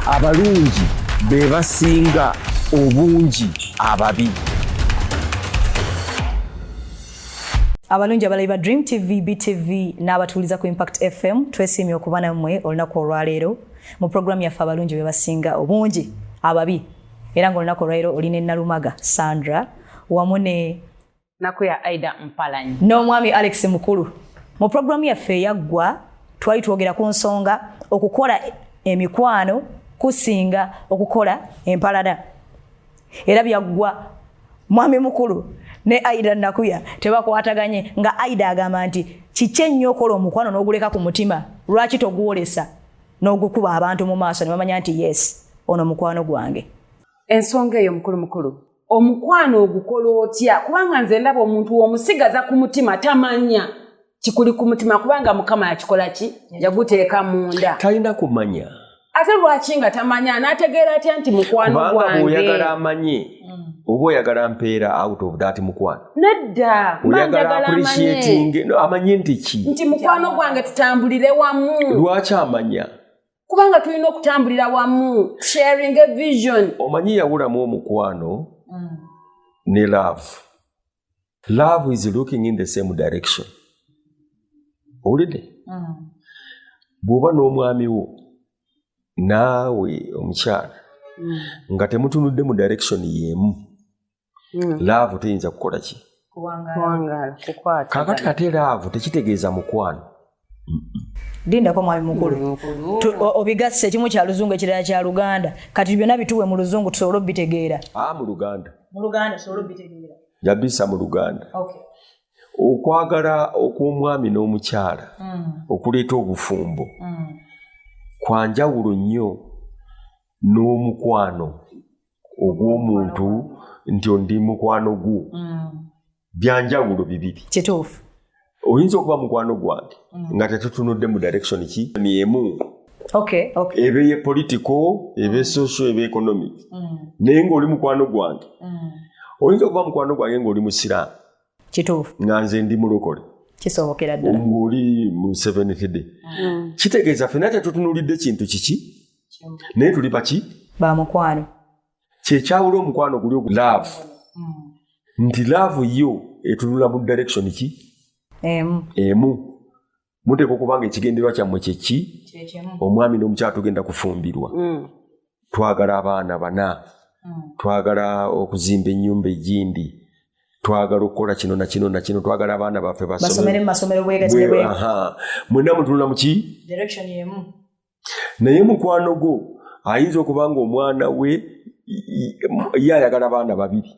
abalungi be basinga obungi ababi abalungi abalabi ba dream tv btv n'abatuuliza ku impact fm twesiimye okuba nammwe olunaku olwaleero mu puroguramu yaffe abalungi be basinga obungi ababi era ng'olunaku olwaleero oli ne nalumaga sandra wamu ne nako ya aida mpalanyi n'omwami alex mukulu mu pulogulaamu yaffe eyaggwa twali twogera ku nsonga okukola emikwano kusinga okukola empalana era byaggwa mwami mukulu ne aida nakuya tebakwataganye nga aida agamba nti kiki ennyo okola omukwano n'oguleka ku mutima lwaki togwolesa n'ogukuba abantu mu maaso ne bamanya nti yes ono mukwano gwange ensonga eyo mukulu mukulu omukwano ogukola otya kubanga nze ndaba omuntu womusigaza ku mutima tamanya kikuli ku mutima kubanga mukama yakikola ki yaguteeka munda talina kumanya ate lwaki nga tamanya anategeera atya nti mukwano gwange oyagala amanye mm. oba oyagala mpeera out of that mukwano nedda oyagala appreciating amanye nti ki nti mukwano gwange tutambulire wamu lwaki amanya kubanga tulina okutambulira wamu sharing a vision omanyi yawulamu omukwano mm. ne love love is looking in the same direction owulidde mm. bw'oba n'omwami wo naawe omukyala mm. nga temutunudde mu direction y'emu hmm. laavu teyinza kukola ki kakati ate laavu tekitegeeza mukwano lindako mwami mukulu mm, obigasse ekimu kya luzungu ekirala kya luganda kati byonna bituwe mu luzungu tusobole obitegeera ah, mu luganda yabisa mu luganda okwagala okw'omwami n'omukyala mm. okuleeta obufumbo mm. kwanjawulo nnyo n'omukwano ogw'omuntu nti ondi mukwano gwo mm. byanjawulo bibiri kituufu oyinza okuba mukwano gwange mm. nga tetutunudde mu direction ki myemu ebe ye politico ebe social ebe economic mm. naye ngaoli mukwano gwange oyinza okuba mukwano gwange ngaoli musiraamu kituufu nga nze ndi mulokole kisobokera ddala ng'oli mu seven hide mm. kitegeeza fena tetutunulidde kintu kiki naye tuli baki ba mukwano kyekyawula omukwano guli ogu laavu mm. nti laavu yo etunula mu direction ki emu emu muteeka okuba nga ekigenderwa kyammwe kyeki omwami n'omukyala tugenda kufumbirwa mm. twagala abaana bana mm. twagala okuzimba ennyumba egindi twagala okukola kino nakino nakino twagala abaana baffe mwena mutunula muki naye mukwano gwo ayinza okuba nga omwana we ye ayagala abaana babiri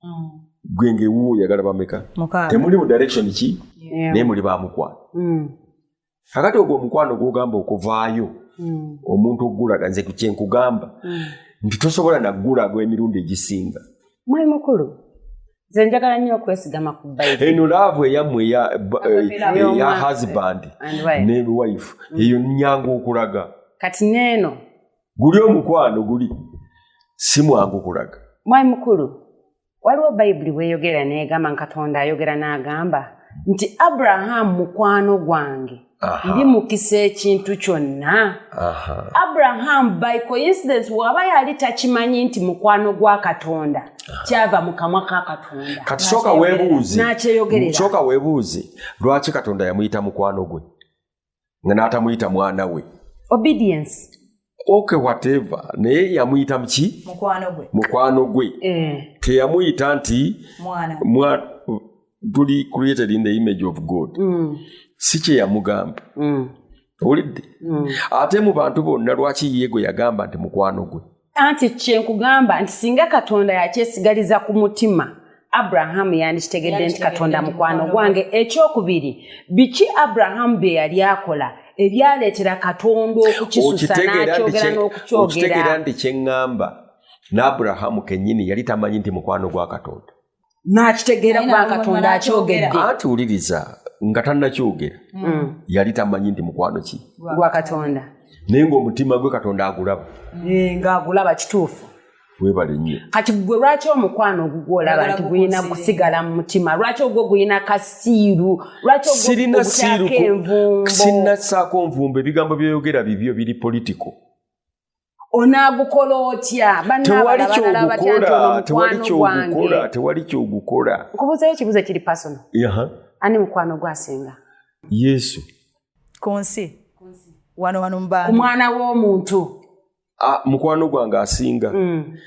mm. gwe ngaewuwo oyagala bameka temuli mu direction ki naye muli bamukwano mm. kakati ogwo omukwano gwogamba okuvaayo mm. omuntu okugulaga nze kyenkugamba nti tosobola nagulaga emirundi egisinga mwali mukulu nze njagala nnyo okwesigama ku bayibuli eno laavu eyammwe eya eh, husband ne wife eyo nyangu okulaga kati neeno guli omukwano guli si mwangu kulaga mwai mukulu waliwo bayibuli weyogera negamba nkatonda ayogera n'agamba nti abrahamu mukwano gwange ndi mukisa ekintu kyonna abrahamu by coincidence waba yali takimanyi nti mukwano gwa katonda kyava mu kamwa ka katonda kati sooka webuuze lwaki katonda yamuyita mukwano gwe nga n'atamuyita mwana we obedience oke whatever naye yamuyita muki mukwano gwe eh. teyamuyita nti tuli created in the image of god mm. si kyeyamugamba mm. owulidde mm. ate mu bantu bonna lwaki ye gwe yagamba nti mukwano gwe anti kyenkugamba nti singa katonda yakyesigaliza ku mutima abrahamu yandikitegedde nti katonda mukwano gwange ekyokubiri biki abrahamu bye yali akola ebyaleetera katonda okukisusa n'akyogera n'okukyogera nti kyeŋŋamba n'abrahamu kennyini yali tamanyi nti mukwano gwa katonda n'akitegeera kuba katonda akyogedde anti wuliriza nga tannakyogera mm. yali tamanyi nti mukwano ki gwa katonda naye ng'omutima gwe katonda agulaba eh, ng'agulaba kituufu webale nnyo kati gwe lwaki omukwano ogugwolaba nti gulina kusigala mu mutima lwaki ogwo gulina kasiiru lwakisirina siiru sinnasaako nvumbo ebigambo byoyogera bibyo biri politiko onaagukola otya tewali kyogukola tewali kyogukola nkubuzayo ekibuzo kiri pasono ani mukwano gwasinga yesu ku nsi wano wano mubaa ku mwana w'omuntu ah, mukwano gwange asinga mm.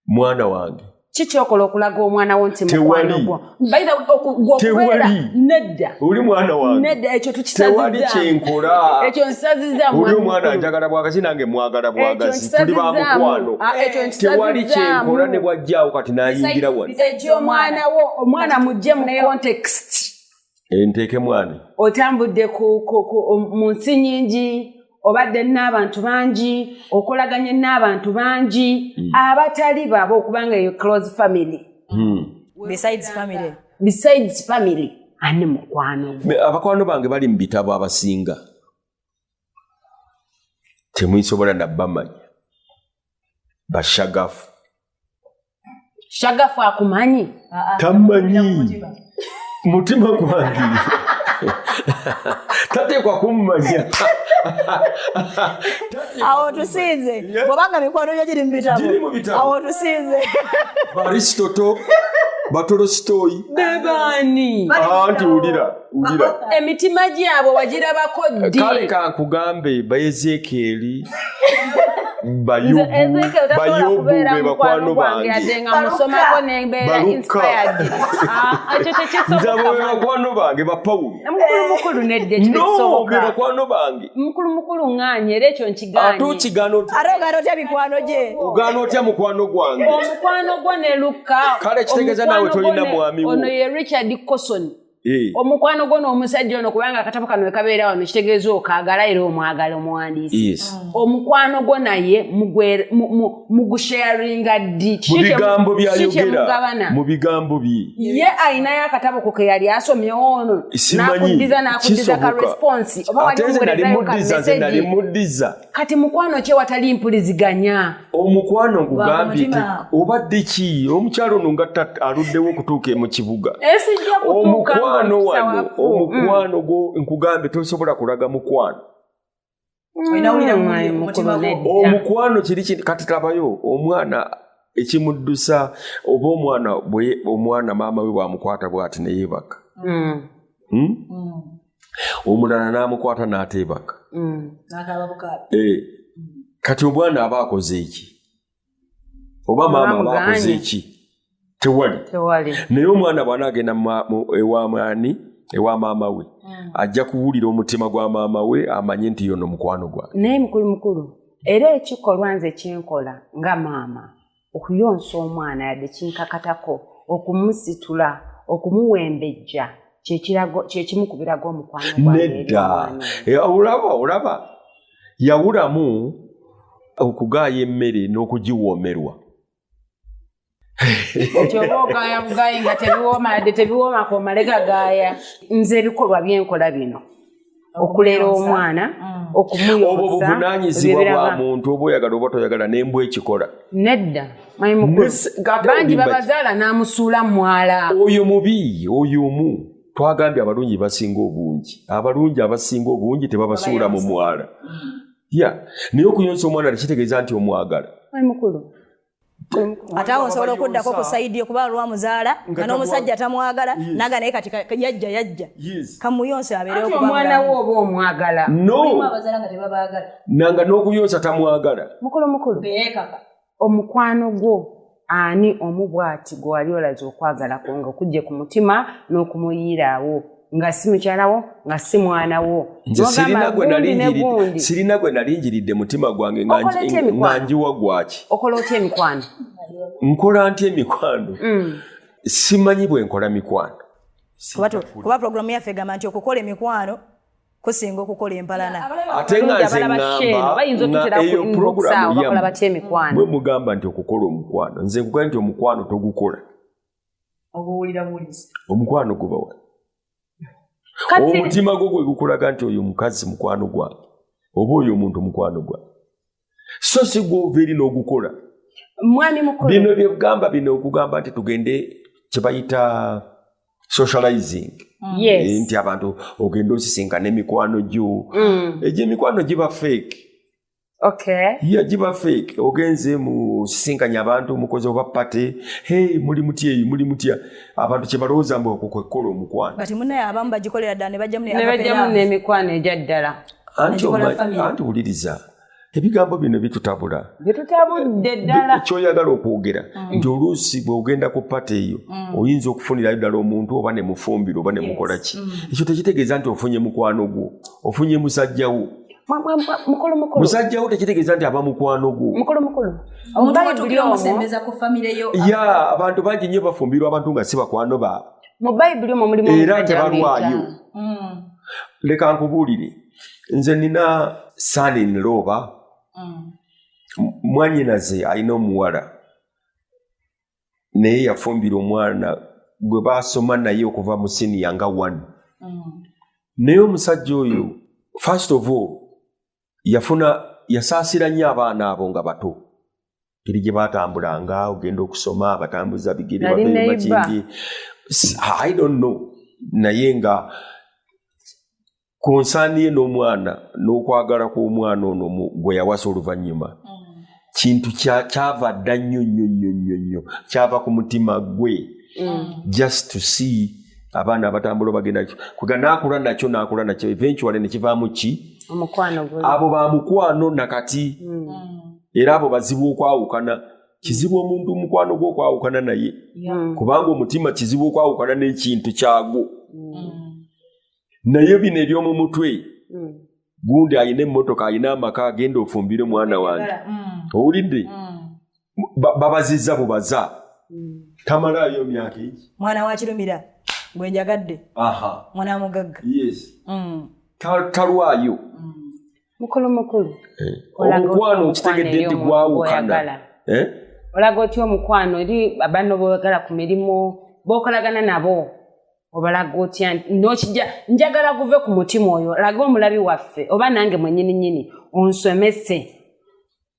mwana wange kikyokola okulaga omwana wo nti mukwanogwotewali nedda oli mwana wange nedda ekyo tukisazitewali kyenkola ekyo nsaziza oli omwana njagala bwagazi nange mwagala bwagazi tuli ba mukwano ah, tewali kyenkola ne bwajjaawo kati nayingira wano ekyomwana wo omwana mujje mu context enteekemu ani otambudde mu nsi nyingi obadde n'abantu bangi okolaganye n'abantu bangi hmm. abatali baaba okubanga eyo close family hmm. besides family besides family ani mukwano abakwano bange bali mu bitabo abasinga temuisobola nabbamanya bashagafu shagafu akumanyi ah, ah. tamanyi mutima gwange tateekwa kummanya awo tusinze bwobanga mikwano gyo giri mubitaboawo tusinze baristoto batolositoyi bebaani anti wulira emitima gyabwe wagirabako ddi kale kankugambe baezeekeeri bayobu bebakwano bangebakwano bange bapawulobebakwano bange ate okigaana otya mukwano gwange kale kitegeeza nawe tolina mwami wo Eh. omukwano gwo n'omusajja ono kubanga akatabo kano wekabeera wano kitegeeza okaagala era omwagala omuwandiisi omukwano gwo naye mugusharinga ddi mu bigambo bye ye alinayo akatabo ko ke yali asomyewo ono nakuddiza nakuddiza ka response oba walimuwerezayo ka message kati mukwano kye watali mpuliziganya omukwano ogugambye obadde ki omukyalo ono nga aluddewo okutuuka mu kibuga omukwano wano omukwano gwo nkugambye tosobola kulaga mukwano Mm. omukwano kiri kintu kati tabayo omwana ekimuddusa oba omwana omwana maama we bwamukwata bwati neyebaka mm. Hmm? Mm. omulala n'amukwata n'ateebaka mm, eh, kati omwana aba akoze eki oba maama aba akoze eki tewali naye omwana bwana agenda ewamwani ewa maama we mm. ajja kuwulira omutima gwa maama we amanye nti yono mukwano gwa naye mukulu mukulu era ekikolwa nze kyenkola nga maama okuyonsa omwana yadde kinkakatako okumusitula okumuwembejja kyekimu ku biraga omukwano nedda eh, olaba olaba yawulamu okugaaya emmere n'okugiwoomerwa kyoba ogaaya bugayi nga tebiwooma yadde tebiwoomako omalega gaaya nze ebikolwa byenkola bino okulera omwana mm. okumuyonsaobwo buvunanyizibwa bwa muntu oba oyagala oba toyagala nembwa ekikola nedda bangi babazaala n'amusuula mwala oyo mubi oyo omu twagambye abalungi basinga obungi abalungi abasinga obungi tebabasuula mu mwala mm. ya naye okuyonsa omwana tekitegeeza nti omwagala mukulu ate awo nsobola okuddako ku saidi yo kuba lwa muzaala nga n'omusajja tamwagala naga naye kati yajja yajja kamuyonsa abeereomwana wo oba omwagala nanga n'okuyonsa tamwagala mukulu mukulu omukwano gwo ani omu bwati gwewali olaze okwagalako nga okujje ku mutima n'okumuyiiraawo nga si mukyalawo nga si mwana wo sirina gwe nalinjiridde mutima gwange nga njiwa gwaki okola otya emikwano nkola ntya emikwano mm. simanyi bwe nkola mikwano kuba pulogulaamu yaffe egamba nti okukola emikwano kusinga okukola empalana ate nga nze ngambaeyo pulogulaamu yamwe mugamba nti okukola omukwano nze nkugaa nti omukwano togukola obuwulira buwuliza omukwano gubawa omutima gwo gwe gukulaga nti oyo omukazi mukwano gwange oba oyo omuntu mukwano gwange so si gwova eri n'ogukola mwami mukulu bino byekugamba bino okugamba nti tugende kyebayita socializing mm. yes. Eh, nti abantu ogenda osisinkana emikwano gyo mm. egyemikwano giba fake Okay. Ye ajiba fake ogenze mu sisinkanya abantu mukoze oba party hey muli mutye eyi muli mutya abantu kye balowooza mbu okwo kwekola omukwano kati munaye abamu bagikolera ddala ne bajja mu ne bajja mu n'emikwano egya ddala anti anti wuliriza ebigambo bino bitutabula bitutabudde ddala kyoyagala okwogera mm. nti oluusi bw'ogenda ku pata eyo mm. oyinza okufunirayo ddala omuntu oba ne mufumbiro oba ne mukola ki mm. ekyo tekitegeeza nti ofunye mukwano gwo ofunye musajja wo musajja wo tekitegeeza nti aba mukwano gwo ya abantu bangi nnyo bafumbirwa abantu nga si bakwano baabwe era tebalwayo mm. leka nkubuulire nze nina sani nlooba mm. mwanyinaze alina omuwala naye yafumbira omwana gwe baasoma naye okuva mu siniya nga one mm. naye omusajja oyo first of all yafuna yasaasira nnyo abaana abo nga bato ngeri gye baatambulanga ogenda okusoma abatambuza bigere babeemakindi i don't know naye nga ku nsaani ye n'omwana n'okwagala kw'omwana ono gwe yawasa oluvannyuma mm. kintu kyava dda nnyo nnyo nnyo nnyo nnyo kyava ku mutima gwe mm. just to see abaana abatambula obagenda kuga naakula nakyo naakula nakyo eventuale ne kivaamu ki abo ba mukwano nakati mm. era abo bazibu okwawukana kizibu omuntu omukwano gwe okwawukana naye kubanga omutima kizibu okwawukana n'ekintu kyagwo naye bino eby'omu mutwe mm. gundi alina emmotoka alina amaka agenda ofumbire omwana wange mm. owulidde babazizza bubaza tamalaayo myaka egi mwana wakirumira gwenjagadde mwana wamugagga talwayo mukulu mukulu eh. omukwano okitegedde nti gwawukana eh? olaga otya omukwano eri abanno boyagala ku mirimu bokolagana nabo obalaga otya nokija njagala guve ku mutima oyo laga omulabi waffe oba nange mwenyini nyini onsomese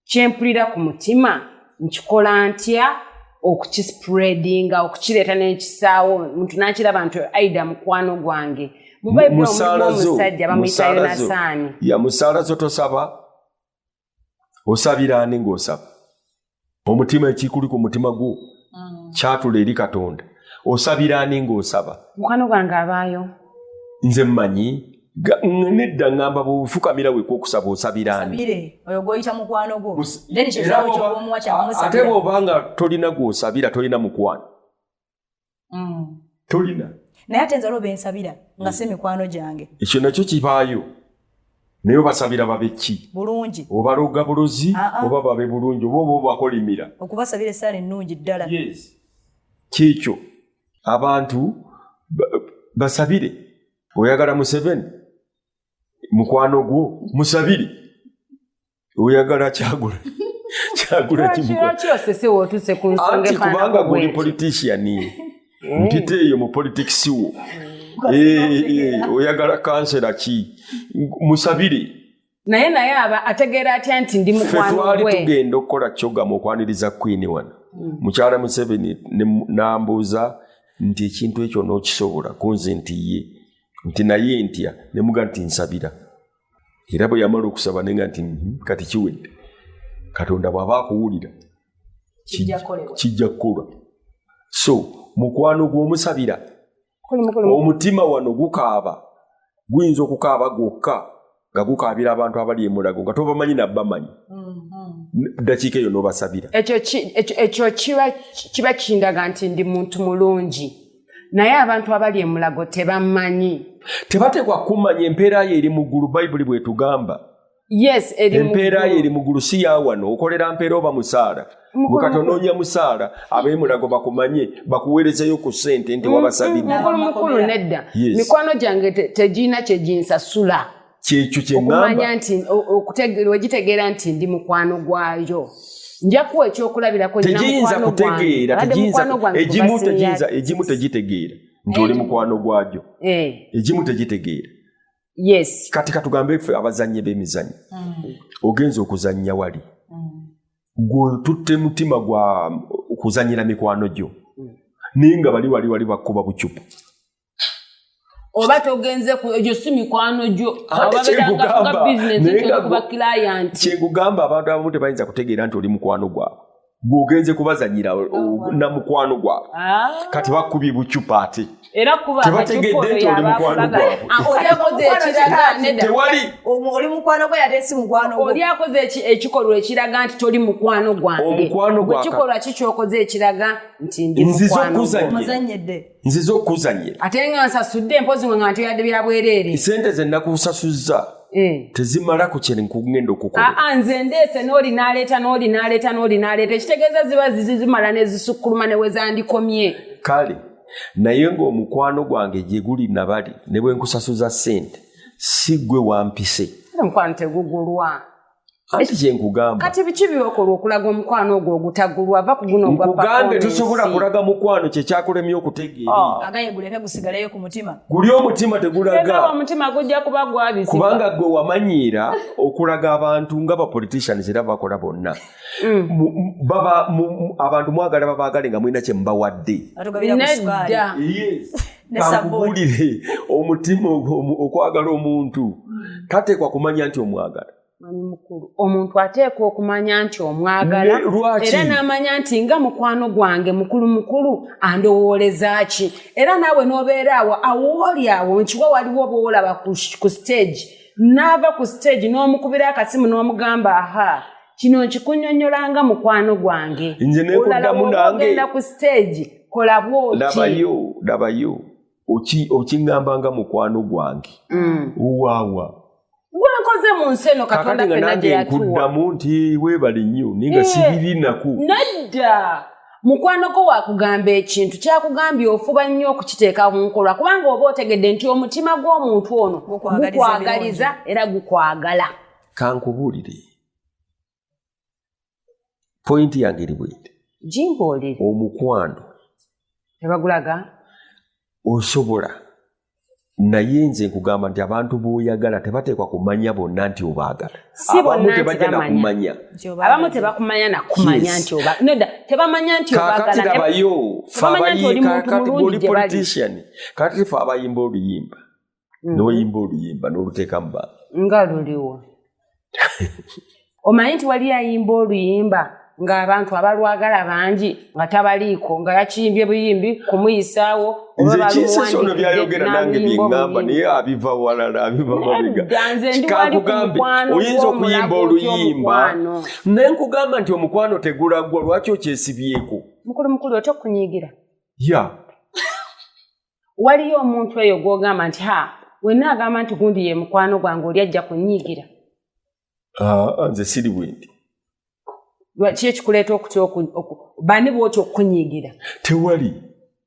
kyempulira ku mutima nkikola ntya okukispreadinga okukireeta nekisaawo muntu nakiraba nti aida mukwano gwange mubaibuli omusajja bamuyita yonasaani yamusaala zo tosaba osabira ani ng'osaba omutima ekikuli ku mutima gwo mm. kyatula eri katonda osabira ani ng'osaba mukwano gwange abaayo nze mmanyi nedda ngamba bwefukamira weka okusaba osabiraate bwobanga tolina gwosabira tolina mukwano mm. tolina naye ate nzalo bensabira nga si mikwano gyange ekyo nakyo kibaayo naye obasabira babeki bulungi obaloga bulozi ah, ah. oba babe bulungi oba oba obakolimira okubasabira esaala ennungi ddala kyekyo abantu basabire oyagala museveni mukwano gwo musabire oyagala kyagula kyagula kimuanti kubanga guli politician eh. mpita eyo mu politics wo eh, eh, oyagala kansera ki musabire naye naye aba ategeera atya nti ndi mukwano gwe tugenda okukola kyoga mu okwaniriza queen wano mm. mukyala museveni nambuuza nti ekintu ekyo n'okisobola kunze nti ye nti naye ntya nemuga nti nsabira era bwe yamala okusaba nenga nti mhm, kati kiwedde katonda bw'aba akuwulira kijja kukolwa so mukwano gw'omusabira omutima wano gukaaba guyinza okukaaba gwokka nga gukaabira abantu abali emulago nga tobamanyi nabamanyi mm-hmm. dakiika eyo nobasabira ekyo kiba kindaga nti ndi muntu mulungi naye abantu abali emulago tebamanyi tebateekwa kumanya empeera yo eri mu ggulu bayibuli bwetugamba yes empeera yo eri mugulu si yawano okolera mpeera oba musaala mukati onoonya musaala abemulago bakumanye bakuweerezeyo ku ssente nti mm, wabasabidde mm, mukulu mukulu nedda mikwano gyange tegirina kyeginsasula kyekyo kyeokumanya nti wegitegeera nti ndi mukwano gwayo njakuwa ekyokulabirako tegiyinza kutegeera egimu tegitegeera nti oli eh. mukwano gwajo eh. egimu tegitegeera yes kati katugambe ffe abazannyi b'emizannyo mm. ogenza okuzannya wali mm. gwetutte mutima gwa kuzanyira mikwano gyo mm. naye nga bali wali wali bakuba bucupu oba togenze egyo si mikwano gyo kyekugamba abantu abamu tebayinza kutegeera nti oli mukwano gwabwe gwogenze kubazanyira oh, oh, na mukwano gwabwe ah. kati bakubye bucupa ate era kuba tebategedde nti oli mukwano gwabweoli ah, mukwano gwe yate si mukwano oli akoze ekikolwa ekiraga nti toli mukwano gwange omukwano gwakikolwa kikyokoze ekiraga nti ndi mukwano gwe nzize okukuzanyira ate nga nsasudde mpozi nga ntoyadde bya bwereere sente ze nakusasuzza eh. tezimala ku kye nkugenda okukola ah, ah, nze ndeese n'oli n'aleeta n'oli n'aleeta n'oli n'aleeta ekitegeeza ziba zizimala ne zisukkuluma ne we zandikomye kale naye ng'omukwano gwange gye guli nabali ne bwe nkusasuza sente si gwe wampise omukwano tegugulwa anti kyenkugamba kati biki byokola okulaga omukwano ogwo ogutagulu ava ku guno nkugambye tosobola kulaga mukwano kyekyakulemye okutegeeraagayegulekgusigalayo ah. ku mutima guli omutima tegulaga omutima gujja kuba gwabisi kubanga gwe wamanyiira okulaga abantu nga bapoliticians era bakola bonna mm. baba abantu mwagala babaagale nga mulina kyemubawadde nedda kankubulire omutima okwagala omuntu hmm. tateekwa kumanya nti omwagala manyi mukulu omuntu ateekwa okumanya nti omwagala era n'amanya nti nga mukwano gwange mukulu mukulu andowooleza ki era naawe n'obeera awo awooli awo nkiwa waliwo oba olaba ku siteegi n'ava ku siteegi n'omukubira akasimu n'omugamba ahaa kino nkikunyonyola nga mukwano gwange nze nekodamu nangeogenda ku stage kola bwotidabayo dabayo okingamba nga mukwano gwange mm. wawa gwenkoze mu nsi eno katonda fenageyatuwankuddamu nti webali nnyo naye nga eh, sibiri naku nedda mukwano gwo wakugamba ekintu kyakugambye ofuba nnyo okukiteeka mu nkolwa kubanga oba otegedde nti omutima gw'omuntu ono gukwagaliza era gukwagala kankubuulire pointi yange eri bwete jimbooli omukwano tebagulaga osobola naye nze nkugamba nti abantu boyagala tebateekwa kumanya bonna nti obaagala abamu tebajja nakumanya abamu tebakumanya nakumanya nti tebamanya nti kakati labayo fe abayi kakati oli politician kakati fe abayimba oluyimba mm-hmm. noyimba oluyimba noluteekamu ba nga luliwo omanyi nti wali ayimba oluyimba ng'abantu abalwagala bangi nga tabaliiko nga yakiyimbye buyimbi kumuyisaawo nzekisesono byayogera nange byeŋamba naye abiva walala abiva mabegakikugambe oyinza okuyimba oluyimba naye nkugamba nti omukwano tegulagwa lwaki okyesibyeko mukulu mukulu otya okunyigira ya waliyo omuntu eyo gwogamba nti ha wenna agamba nti gundi ye mukwano gwange oli ajja kunyiigira ah, nze siri bwendi lwaki ekikuleeta okutya bani bwotya okukunyiigira tewali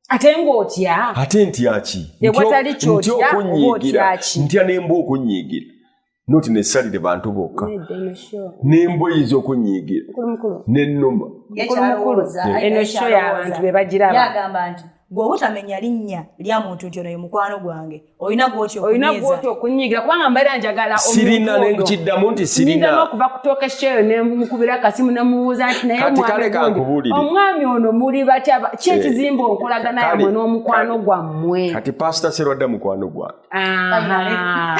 ate ngaotya ate ntyaki ewatali kyotya okunyiigira ntya nemba okunyiigira noti nesalire bantu bokka nemboyi zokunyiigira nenuma eno sho yabantu bebagirabagamba nti gwe obutamenya linnya lya muntu nti ono ye mukwano gwange olina gwotyoolina okunyiigira kubanga mbeera njagala sirina nekiddamu nti sirinza n'okuva ku tooka ekikyeyo nemukubira kasimu nemuwuuza nti naye omwami ono muli batya ki eh, ekizimba onkolagana yamwe n'omukwano gwammwe kati pasita serwadda mukwano gwange Aha.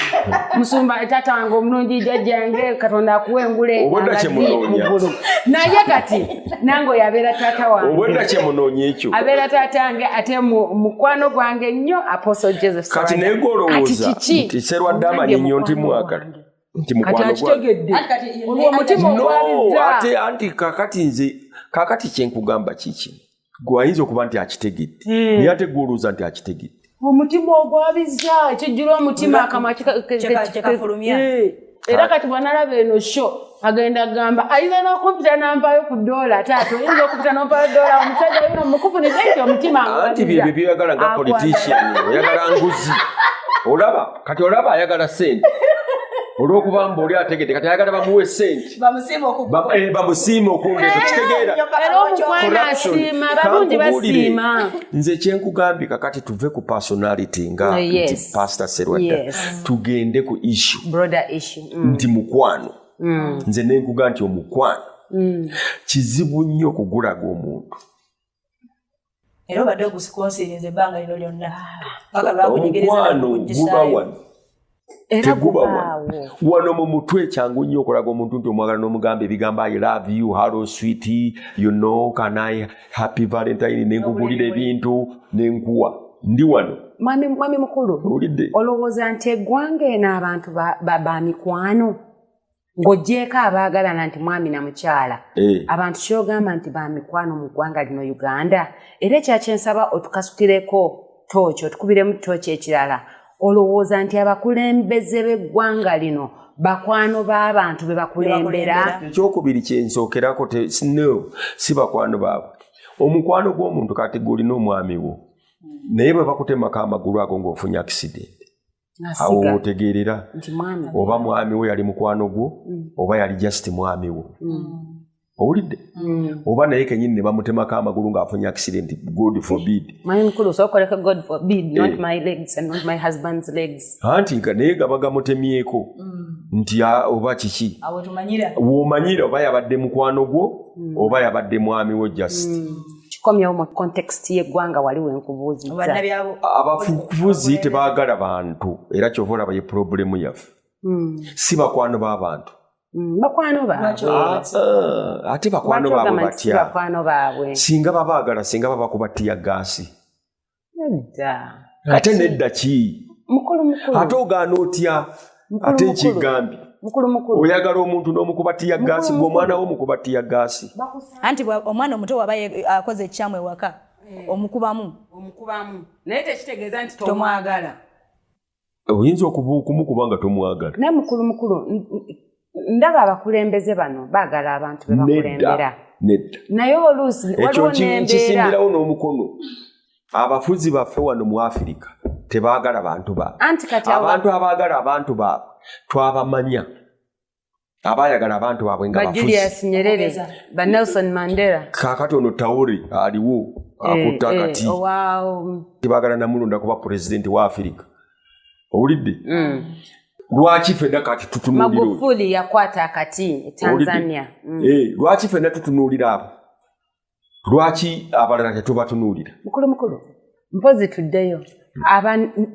musumba taata wange omulungi jajja yange katonda akuwa engule Obwedda kye munoonya. naye kati nange oyo abeera taata wange obwedda kyemunoonya ekyo abeera taata wange ate mu- mukwano gwange nnyo apostle joseph kati Sawanya. naye Kati golowooza kiki? nti serwadde amanyi nnyo nti Mukwano mwagala gwange. nti kati mukwano gwa akitegedde Ati kati ye- olwo omutima No, ogwabizza ate anti kakati nze kakati kyenkugamba kiki gwe ayinza okuba nti akitegedde hmm. naye ate gwolowooza nti akitegedde omutima ogwabiza kijjula omutima akamwa kyekafulumya eh. era kati bwanalaba eno sho agenda gamba ayinza n'okumpita nampayo ku doola taata oyinza okumpita nompayo doola omusajja yona mukufu nizenti omutima anti byebyo byoyagala nga politician oyagala nguzi olaba kati olaba ayagala sente olwokuba mba oli ategedde kati ayagala bamuwa esente bamusiima okwongeeza kitegeerakankubuulire nze kyenkugambye kakati tuve ku personality nga oh, pastor serwadda tugende ku issue mm. nti mukwano mm. nze nenkuga nti omukwano mm. kizibu nnyo okugulaga omuntu era obadde ogusikonsirinza ebbanga lino lyonna omukwano guba wano teguba wano wano mu mutwe kyangu nnyo okulaga omuntu nti omwagala n'omugamba ebigambo i love you hallo swit you know can i happy valentine nenkugulira ebintu nenkuwa ndi wano mwami mukulu olowooza nti eggwanga eno abantu ba mikwano ng'ogyeko abaagalana nti mwami na mukyala eh. abantu kyogamba nti ba mikwano mu ggwanga lino uganda era ekyakyensaba otukasukireko tooki otukubiremu tooki ekirala olowooza nti abakulembeze b'eggwanga lino bakwano b'abantu be bakulembera ekyokubiri kyensookerako no si bakwano baabwe omukwano gw'omuntu kati gwolina omwami wo naye bwe bakutemako amagulu ago ng'ofunye akisidenti awo wotegeerera oba mwami wo yali mukwano gwo mm. oba yali just mwami wo mm. owulidde mm. oba naye kenyini nebamutemako amagulu ngaafunye accident god forbidhanti eh. naye gaba gamutemyeko mm. nti oba kiki womanyira oba yabadde mukwano gwo mm. oba yabadde mwami wo just kikomyewo mu context y'eggwanga wali wenkubuuzizaabafukuvuzi tebaagala bantu era kyova olaba ye pulobulemu yaffe hmm. si bakwano b'abantu hmm, bakwano baabwe ah, ah, ate bakwano baabwe batya singa babaagala singa babakuba ttiya gaasi ate nedda ki ate ogaana otya ate nkigambye oyagala omuntu nomukuba tiya gaasi gwe omwana wo mukuba tiya gaasi anti omwana omuto waba akoze ekikyamu ewaka eh. omukubamu omukubamu naye tekitegeeza nti tomwagala oyinza okumukuba nga tomwagala naye mukulu mukulu ndaba abakulembeze bano baagala abantu bebakulembera nedda naye oluusi ekyo nkisimbirawo n'omukono abafuzi baffe wano mu afirika tebaagala bantu baabwe abantu abaagala abantu baabwe twabamanya abayagala abantu babwe nga bajulius nyerere ba nelson mandela kakati ono tauri aliwo eh, akutta eh, kati oh, tibagala namulonda kuba pulezidenti wa afirika owulidde mm. lwaki fena kati tutunuliramagufuli yakwata akati e tanzania mm. eh, lwaki fena tutunuulira abo lwaki abalala tetubatunuulira mukulu mukulu mpozi tuddeyo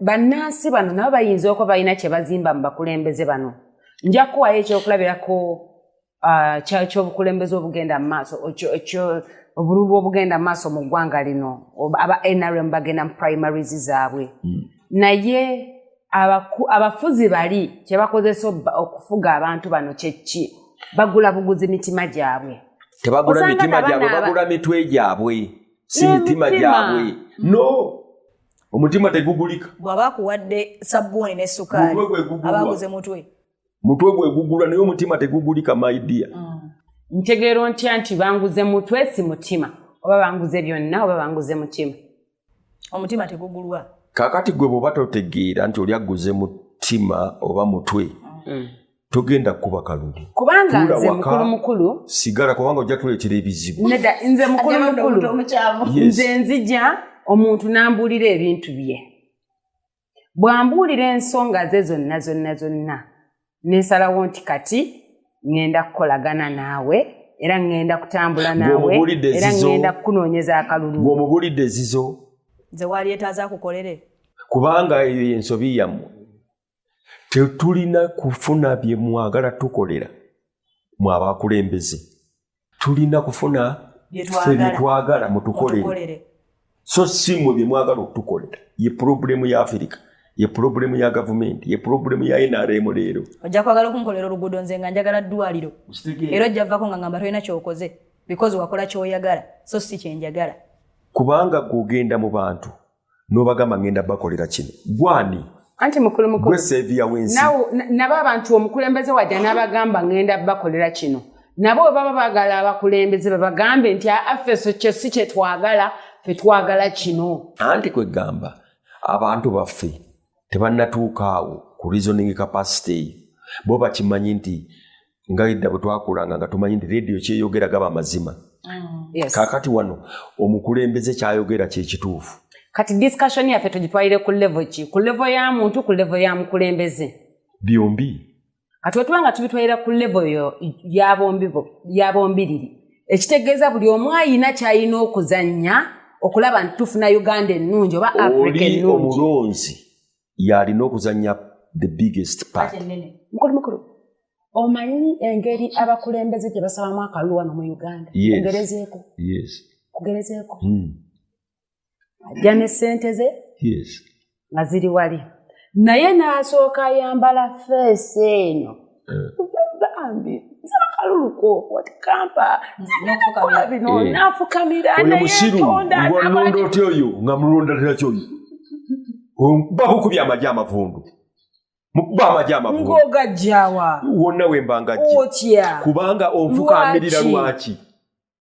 bannansi bano nabo bayinza okuba balina kye bazimba mu bakulembeze bano nja kukuwayo ekyokulabirako ah, kyobukulembeze obugenda mu maaso obululu obugenda mu maaso mu ggwanga lino aba nrm bagenda mu primaries zaabwe hmm. naye abafuzi bali kyebakozesa okufuga abantu bano kyekki bagula buguzi mitima gyabwe tebagula mitima gyabwe bagula mitwe gyabwe si mitima gyabwe no omutima tegugulika bwaba akuwadde sabbuuni ne sukaali abaguze mutwe mutwe gwegugula naye omutima tegugulika maidia mm. ntegeera ontya nti banguze mutwe si mutima oba banguze byonna oba banguze mutima omutima tegugulwa kakati gwe bwoba totegeera nti oli agguze mutima oba mutwe mm. togenda kukuba kalulu kubanga nze mukulu mukulu sigala kubanga ojja tuleetera ebizibu neda nze mukulu mukulu nze nzija omuntu n'ambuulira ebintu bye bw'ambuulira ensonga ze zonna zonna zonna ne nsalawo nti kati ŋŋenda kukolagana naawe era ŋŋenda kutambula naawe era ŋŋenda kukunoonyeza akalulu ng'omubulidde ezizo nze waali etaaza akukolere kubanga eyo y'ensobi yammwe tetulina kufuna bye mwagala tukolera mwabakulembeze tulina kufuna fe byetwagala mutukolere so si mwe byemwagala okutukolera ye pulobulemu ya afirika ye pulobulemu ya gavumenti ye pulobulemu ya nrm leero ojja kwagala okunkolera oluguudo nze nga njagala ddwaliro era ojja vako nga ngamba tolina kyokoze because wakola kyoyagala so si kyenjagala kubanga gweogenda mu bantu nobagamba ngenda bakolera kino gwani anti mukulu mukulu seviya wensi nabo abantu omukulembeze waja nabagamba ngenda bakolera kino nabo webaba bagala abakulembeze babagambe nti afeso kyesi kyetwagala fetwagala kino anti kwegamba abantu baffe tebanatuukaawo ku reasoning capacity eyo bo bakimanyi nti nga edda bwe twakulanga nga tumanyi nti rediyo kyeyogera gaba amazima mm. kakati wano omukulembeze kyayogera kyekituufu kati discussion yaffe tugitwalire ku levo ki ku levo ya muntu ku levo ya mukulembeze byombi kati wetuba nga tubitwalira ku levo yabombiriri ekitegeeza buli omu ayina kyalina okuzannya okulaba nti tufuna uganda ennungi oba afrika ennungi yalina okuzanya the biggest part mukulu mukulu omanyi engeri abakulembeze gye basabamu akalulu wano mu uganda kugerezeeko kugerezeeko hmm. ajja ne sente ze nga ziri wali naye n'asooka ayambala feesi eno bambi nsaba kalulu koko ati kampa nzinakola bino eh. nafukamira nayeondaolonda otya oyo nga mulonda tiraki oyo bakukubya amaji amavundu mukuba amaji amavundu ngogajjawa wonna wembangajja kubanga onfukamirira lwaki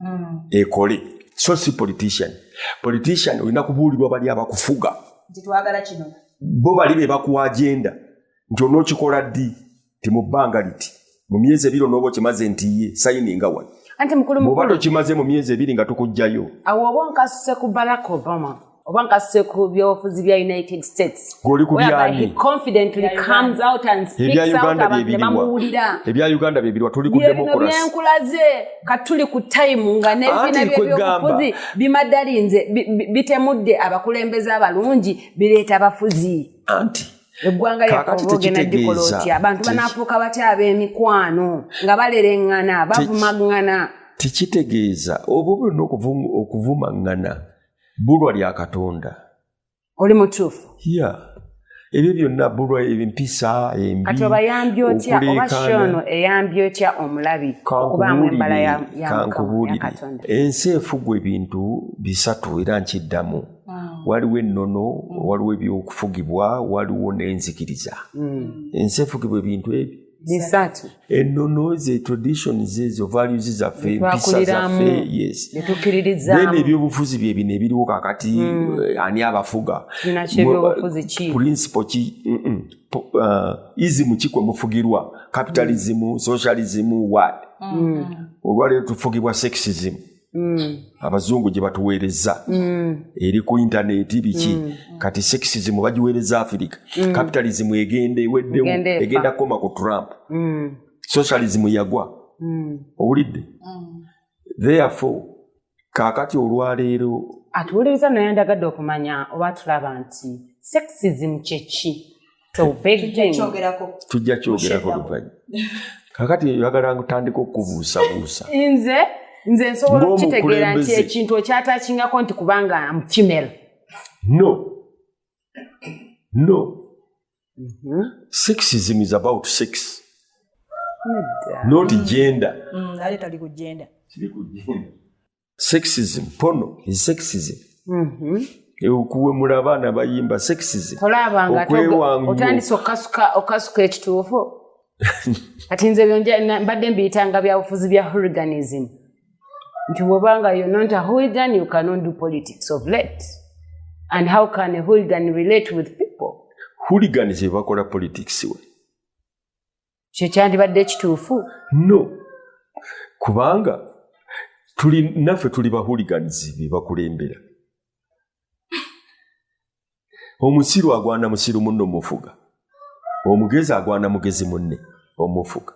mm. ekole so si politician politician olina kubuulirwa bali abakufuga bo bali be bakuwa agenda nti onookikola ddi ti mu bbanga liti mu myezi ebiri onooba okimaze nti ye sayini nga wali oba tokimaze mu myezi ebiri nga tukugjayo awo oba onkasuse ku barack obama oba nkasuse ku byobufuzi bya united states goli ku byani confidently comes out and speaks out uganda byebiliwa ebya uganda byebiliwa tuli ku democracy byenkulaze katuli ku time nga nebina byobufuzi bimadalinze bitemudde abakulembeze abalungi bireeta abafuzi anti eggwanga lyakobogenda dikola otya abantu banafuuka batya ab'emikwano nga balereŋŋana bavumaŋŋana tekitegeeza oba oba olina okuvumaŋŋana bulwa lya katonda oli mutuufu ya ebyo byonna bulwa empisa embikati obayambi otya oba shono eyambi otya omulabi okubaamu embala yamukatonda ensi efugwa ebintu bisatu era nkiddamu waliwo ennono waliwo ebyokufugibwa waliwo n'enzikiriza mm. ensi efugibwa ebintu ebyo bisatu ennono ze tradition zezo values zaffe mpisa zaffe yes then ebyobufuzi bye bino ebiriwo kakati mm. Eh, ani abafuga principle ki mm -mm. Uh, izimu kikwe mufugirwa capitalism mm. socialism wad mm. olwaleero tufugibwa sexism mm. Mm. abazungu gye batuweereza mm. eri ku intaneti biki mm. kati sexism bagiweereza afirika capitalism egenda eweddemu egenda kukoma ku trump socialism yagwa owulidde therefore kaakati olwaleero atuwuliriza naye ndagadde okumanya oba tulaba nti sexism kyeki tujja kyogerako luvanyu kakati oyagala ntandika okubuusabuusa nze nze nsobola okukitegeera nti ekintu okyatakingako nti kubanga mfimel no no mhm. sexism is about sex not gender mm, sexism pono is sexism mm-hmm. okuwemula abaana bayimba sexism otandise okasuka ekituufu kati nze mbadde mbiyitanga byabufuzi bya huriganism nti bwobanga yo not a hooligan you cannot do politics of late and how can a hooligan relate with people hooligan zebakola politics we kyo kyandibadde ekituufu no kubanga tuli naffe tuli bahuliganizi be bakulembera omusiru agwana musiru munno mufuga omugezi agwana mugezi munne omufuga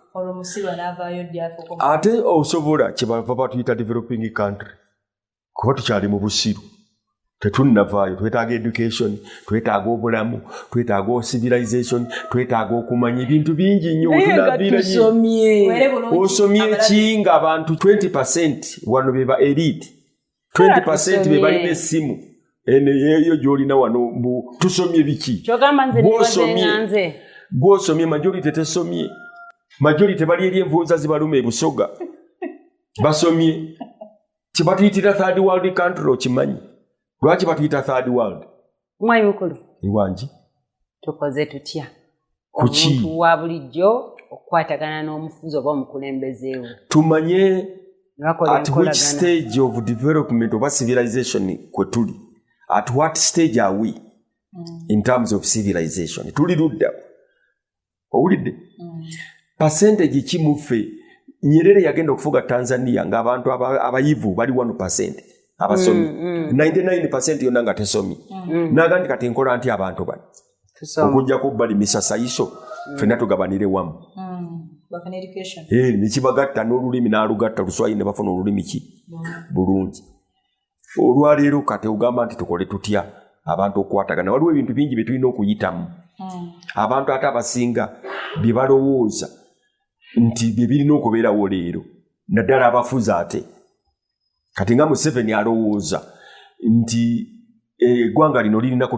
ate osobola kyebava batuyita developing country kuba tukyali mu busiru tetunnavaayo twetaaga education twetaaga obulamu twetaaga ocivilization twetaaga okumanya ebintu bingi nnyo osomye ki nga abantu 20 percent wano beba elite 20 percent bebalina essimu eneyeyo gyolina wano mbu tusomye biki gwosomye majority tesomye majority bali eri envunza zibaluma ebusoga basomye kyebatuyitira third world country okimanyi lwaki batuyita third world mwayi mukulu iwangi tukoze tutya kuki wa bulijjo okukwatagana n'omufuzi oba omukulembeze we tumanye at which stage of development oba civilization kwe tuli at what stage are we mm. in terms of civilization tuli ludda owulidde mm. percentage ki muffe nyerere yagenda okufuga tanzania ngaabantu abayivu bali wano percent abasomi 99 mm, mm. percent yonna nga tesomi naga nti kati nkola nti abantu bano okujjako bali misasayiso fena tugabanire wamu eh, nekibagatta n'olulimi n'alugatta luswayiri ne bafuna olulimi ki bulungi olwaleero kati ogamba nti tukole tutya abantu okukwatagana waliwo ebintu bingi bye tulina okuyitamu hmm. abantu ate abasinga bye balowooza nti bye birina okubeerawo leero naddala abafuzi ate kati nga museveni alowooza nti eh, eggwanga lino lirina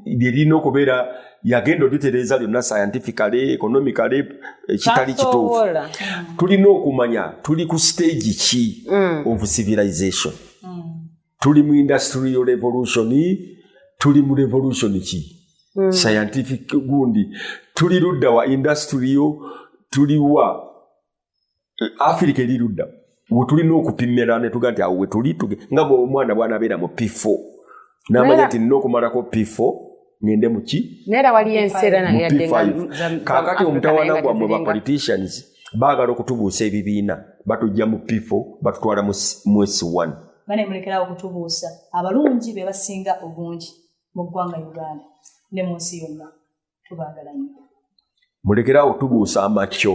lye lirina okubeera yagenda oditereeza lyonna scientifically economically eh, kitali kituufu tulina okumanya tuli ku stage ki mm. of civilization mm. tuli mu industrial revolution tuli mu revolution ki mm. scientific gundi tuli ludda wa industrial tuliwa afirika eri ludda wetulina okupimira netuga nti awo wetuli nga omwana bwanabeera mu pifo namanya nti nina okumalako pifo ngende muki kakati omutawana gwammwe ba politicians baagala okutubuusa ebibiina batujja mu pifo batutwala mu s1 banemulekerawo okutubuusa abalungi bebasinga obungi mu ggwanga uganda ne mu nsi yonna tubaagala nyo mulekerawo tubuusa amakyo